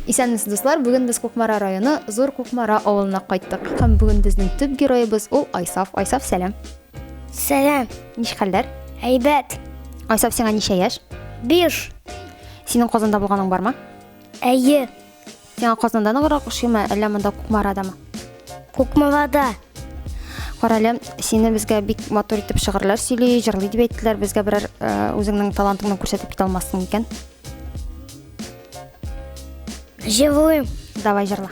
Исәнмесез, дуслар! Бүген без Кукмара районы Зур Кукмара авылына кайттык. Һәм бүген безнең төп героебыз ул Айсаф. Айсаф, сәлам. Сәлам. Ниш хәлләр? Әйбәт. Айсаф, сиңа ничә яшь? Биш. Синең Казанда булганың бармы? Әйе. Сиңа Казанда ныграк ошыймы, әллә монда Кукмарадамы? Кукмарада. Карале, сине безгә бик матур итеп шигырьләр сөйли, җырлый дип әйттеләр. Безгә берәр э, үзеңнең талантыңны күрсәтеп китә алмассың икән? Җырлыйм. Давай җырла.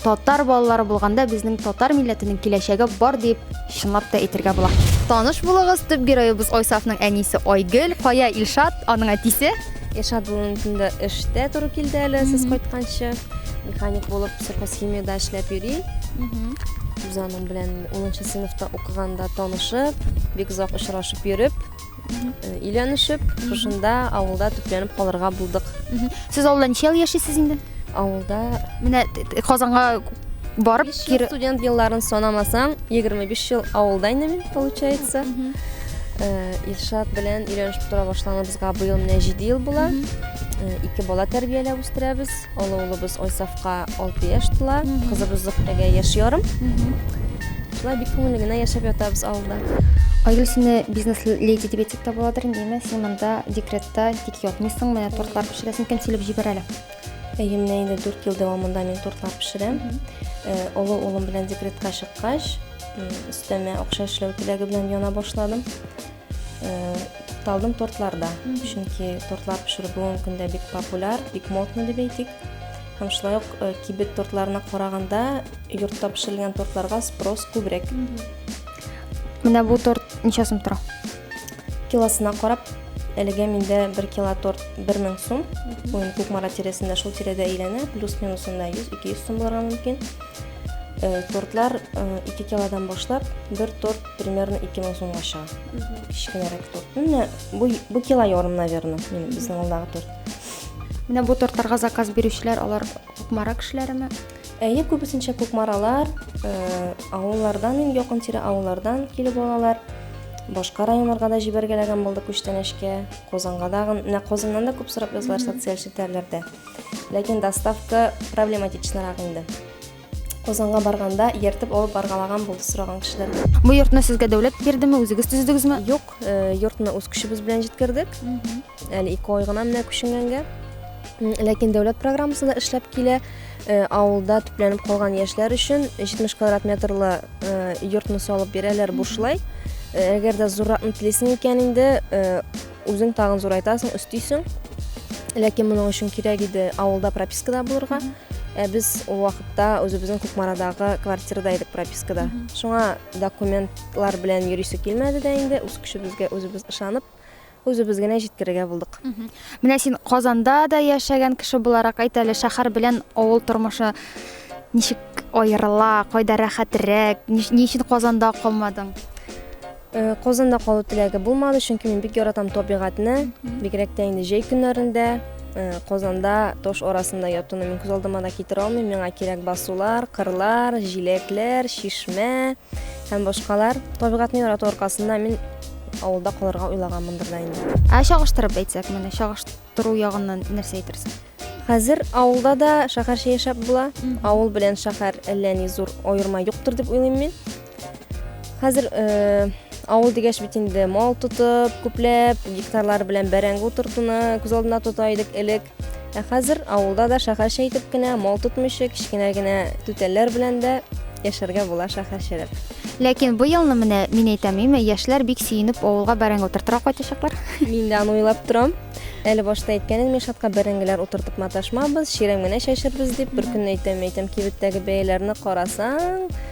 Татар балалары булганда безнең татар милләтенең киләчәге бар дип чынлап та әйтергә була. Таныш булыгыз, төп героебыз Айсафның әнисе Айгөл, Кая Илшат, аның әтисе. Илшат бүгенге көндә эштә туры килде әле, сез кайтканчы. Механик булып сельхозхимиядә эшләп йөри. Без аның белән 10 сыйныфта укыганда танышып, бик озак очрашып йөреп, Өйләнешеп, шушында авылда төпләнеп калырга булдык. Сез авылда ничә ел яшисез инде? Авылда Менә т- т- Казанга барып биш ел кире студент елларын санамасаң, 25 ел авылда инде мин, получается. Э, Илшат белән өйләнешеп тора башланыбызга быел менә 7 ел була. Э, Ике бала тәрбияләп үстерәбез. Олы улыбыз Айсафка алты яшь тула, кызыбыз Зөхтәгә яшь ярым. Шулай бик күңелле генә яшәп ятабыз авылда. Айгөл, сине бизнес леди дип әйтсәк тә буладыр инде, әйме? Син монда декретта тик ятмыйсың, менә тортлар пешерәсең, кем килеп җибәрә әле? Әйе, менә инде 4 ел дәвамында мин тортлар пешерәм. Олы улым белән декретка чыккач, өстәмә акча эшләү теләге белән яна башладым. тукталдым тортларда чөнки тортлар пешерү бүгенге көндә бик популяр бик модно дип әйтик һәм шулай ук кибет тортларына караганда йортта пешерелгән тортларга спрос күбрәк менә бу торт ничә сум тора килосына карап әлегә миндә бер кило торт бер мең сум бүгін кукмара тирәсендә шул тирәдә әйләнә плюс минус анда йөз ике йөз сум булырга мөмкин тортлар ике килодан башлап бер торт Примерно 2000 сумга чыга. Кечкенәрәк торт. Менә бу бу кило ярым, наверное, мин безнең алдагы торт. Менә бу тортларга заказ бирүчеләр алар Кукмара кешеләреме? Әйе, күбесенчә Кукмаралар, э, авыллардан, ин якын тирә авыллардан килеп алалар. Башка районнарга да җибәргәләгән булды күчтәнәчкә, Казанга да, менә Казаннан да күп сорап язлар социаль челтәрләрдә. Ләкин доставка проблематичнарак инде. Казанга барганда ертып алып баргалаган булды сораган кешеләр. Бу йортны сезгә дәүләт бирдеме, үзегез төзедегезме? Юк, э, йортны үз көчебез белән җиткердек. Әле ике ай гына менә күченгәнгә. М, Ләкин дәүләт программасы да эшләп килә. Э, Авылда төпләнеп калган яшьләр өчен 70 квадрат метрлы э, йортны салып бирәләр бушлай. Э, Әгәр дә зурракны телисең икән инде, э, Үзең тагын зурайтасың, өстисең. Ләкин моның өчен кирәк иде авылда пропискада булырга. Ә без ул вакытта үзебезнең Кукмарадагы квартирада идек пропискада. Шуңа документлар белән йөрисе килмәде дә инде, үз көчебезгә үзебез ышанып, үзебез генә җиткерергә булдык. Менә син Казанда да яшәгән кеше буларак әйт әле, шәһәр белән авыл тормышы ничек аерыла, кайда рәхәтрәк, ни өчен Казанда калмадың? Казанда калу теләге булмады, чөнки мин бик яратам табигатьне, бигрәк тә инде җәй көннәрендә. Казанда таш арасында ятуны мин күз алдыма да китерә алмыйм. Миңа кирәк басулар, кырлар, җиләкләр, чишмә һәм башкалар. Табигатьне ярату аркасында мин авылда калырга уйлаганмындыр да инде. Ә чагыштырып әйтсәк, менә чагыштыру ягыннан нәрсә әйтерсең? Хәзер авылда да шәһәрчә яшәп була. Авыл белән шәһәр әллә ни зур аерма юктыр дип уйлыйм мин. Хәзер авыл дигәч бит инде мал тотып, күпләп гектарлар белән бәрәңге утыртуны күз алдына тота идек элек. Ә хәзер авылда да шәһәрчә итеп кенә мал тотмыйча кечкенә генә түтәлләр белән дә яшәргә була шәһәрчәрәк. Ләкин бу елны менә мин әйтәм, име, яшьләр бик сөенеп авылга бәрәңге утыртырга кайтачаклар. Мин дә аны уйлап торам. Әле башта әйткәнем Мишатка бәрәңгеләр утыртып маташмабыз, чирәм генә чәчербез дип, бер көнне әйтәм, әйтәм, кибеттәге бәяләрне карасаң,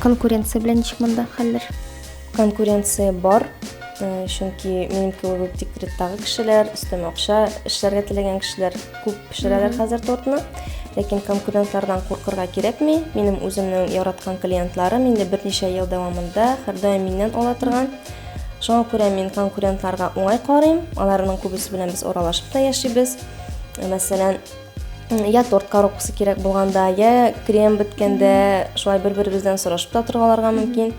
Конкуренция белән ничек монда хәлләр? Конкуренция бар, э, чөнки минем кебек үк декреттагы кешеләр, өстәмә акча эшләргә теләгән кешеләр күп пешерәләр хәзер тортны. Ләкин конкурентлардан куркырга кирәкми. Минем үземнең яраткан клиентларым инде берничә ел дәвамында һәрдаим миннән ала торган. Шуңа күрә мин конкурентларга уңай карыйм. Аларның күбесе белән без аралашып та яшибез. Мәсәлән, я торт коробкасы кирәк булганда, я крем беткәндә, шулай бер-беребездән сорашып та торгаларга мөмкин.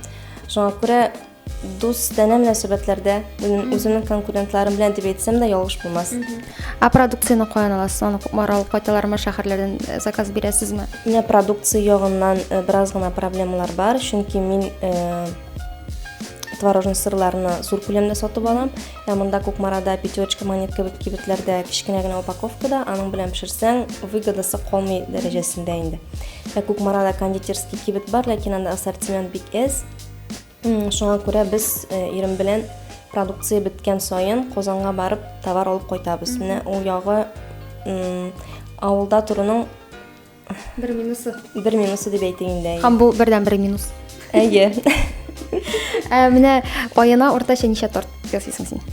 Шуңа күрә дус тәнә мөнәсәбәтләрдә минем үземнең конкурентларым белән дип әйтсәм дә ялгыш булмас. Ә продукцияне каян аласыз? Аны Кукмара алып кайталармы, шәһәрләрдән э, заказ бирәсезме? Менә продукция ягыннан э, бераз гына проблемалар бар, чөнки мин э, творожный сырларны зур күләмдә сатып алам. Ә монда Кукмарада пятерочка монет кебек кибетләрдә кечкенә генә упаковкада, аның белән пешерсәң, выгодасы калмый дәрәҗәсендә инде. Ә Кукмарада кондитерский кибет бар, ләкин анда ассортимент бик әз. Шуңа күрә без э, ирем белән продукция беткән саен Казанга барып товар алып кайтабыз. Менә ул ягы авылда торуның Бер минусы. Бер минусы дип әйтик инде. Һәм бу бердән бер минус. Әйе. Ә менә аена уртача ничә торт ясыйсың син?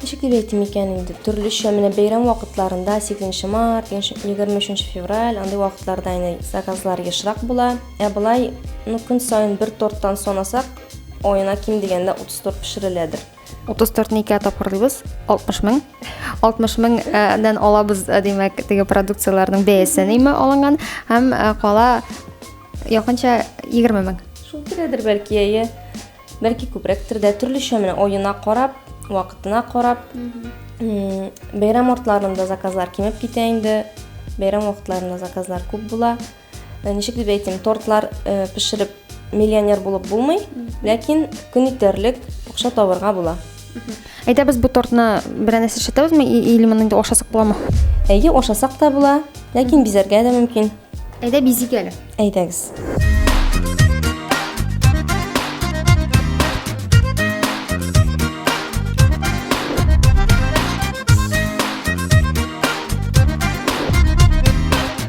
Ничек дип әйтим икән инде? Төрлечә менә бәйрәм вакытларында 8 март, 23 февраль андый вакытларда инде заказлар ешрак була. Ә былай, ну көн саен бер торттан санасак, аена ким дигәндә 30 торт пешереләдер. 34 не ике тапкыр дибез 60 мең 60 меңнән алабыз димәк теге продукцияләрнең бәясе неме алынган һәм кала якынча 20 мең шул тирәдер бәлки әйе бәлки күбрәктер дә төрлечә менә оена карап вакытына карап бәйрәм артларында заказлар кимеп китә инде бәйрәм вакытларында заказлар күп була Ничек дип әйтим, тортлар пешереп миллионер булып булмый, ләкин көн итәрлек акча табырга була. Әйдәбез бу тортны берәр нәрсә эшләтәбезме или моны инде ашасак буламы? Әйе, ашасак та була, ләкин бизәргә дә мөмкин. Әйдә бизик әле. Әйдәгез.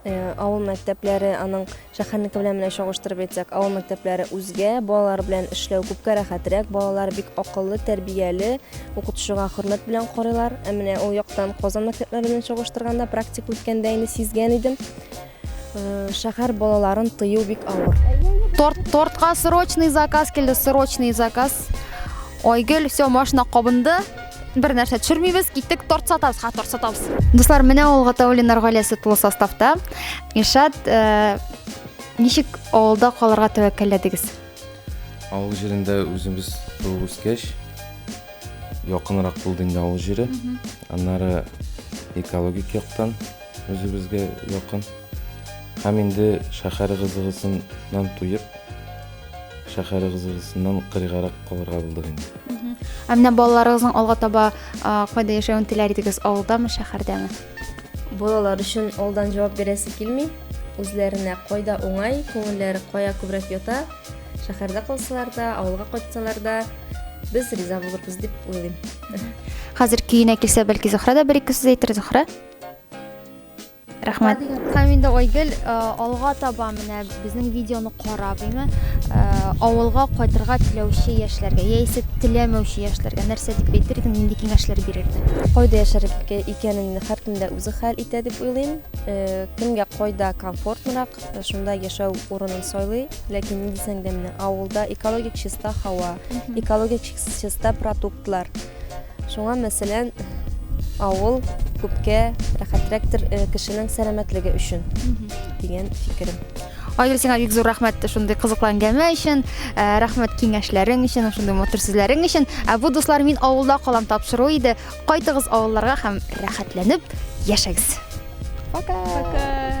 Авыл мәктәпләре, аның шәһәрнеке белән менә чагыштырып әйтсәк, авыл мәктәпләре үзгә, балалар белән эшләү күпкә рәхәтрәк, балалар бик акыллы, тәрбияле, укытучыга хөрмәт белән карыйлар. Ә менә ул яктан Казан мәктәпләре белән чагыштырганда, практика үткәндә инде сизгән идем, шәһәр балаларын тыю бик авыр. Торт, тортка срочный заказ килде, срочный заказ. Айгөл, все, машина кабынды. бер нәрсә төшермибез киттек торт сатабыз ха торт сатабыз дуслар менә ул гатаулиннар гаиләсе тулы составта илшат э, ничек авылда калырга тәвәккәлләдегез авыл җирендә үзебез туып үскәч якынрак булды инде авыл җире аннары экологик яктан үзебезгә якын һәм инде шәһәр кызыгысыннан туеп Шәһәрегезгезннән кырыйгарак калырга булдык инде. Ә менә балаларыгызның алга таба кайда яшәвен теләр идегез, авылдамы, шәһәрдәме? Балалар өчен алдан җавап бирәсе килми. Үзләренә кайда уңай, күңелләре кая күбрәк ята, шәһәрдә калсалар да, авылга кайтсалар да, без риза булырбыз дип уйлыйм. Хәзер көенә килсә, бәлки Зөхрә дә бер ике сүз әйтер, Зөхрә? Рәхмәт. Һәм инде Айгөл алга таба менә безнең видеоны карап, әйме, авылга кайтырга теләүче яшьләргә яисә теләмәүче яшьләргә нәрсә дип әйтер идең, нинди киңәшләр бирер идең? Кайда яшәргә икәнеңне һәркем дә үзе хәл итә дип уйлыйм. Кемгә кайда комфортнырак, шунда яшәү урынын сайлый. Ләкин ни дисәң дә, менә авылда экологик чиста һава, экологик чиста продуктлар. Шуңа, мәсәлән, авыл күпкә рәхәтрәктер э, кешенең сәламәтлеге өчен дигән фикерем. Айгөл, сиңа бик зур рәхмәт шундый кызыклы әңгәмә өчен, э, рәхмәт киңәшләрең өчен, шундый матур сүзләрең өчен. Ә бу дуслар мин авылда калам тапшыру иде. Кайтыгыз авылларга һәм рәхәтләнеп яшәгез. Пока. Пока.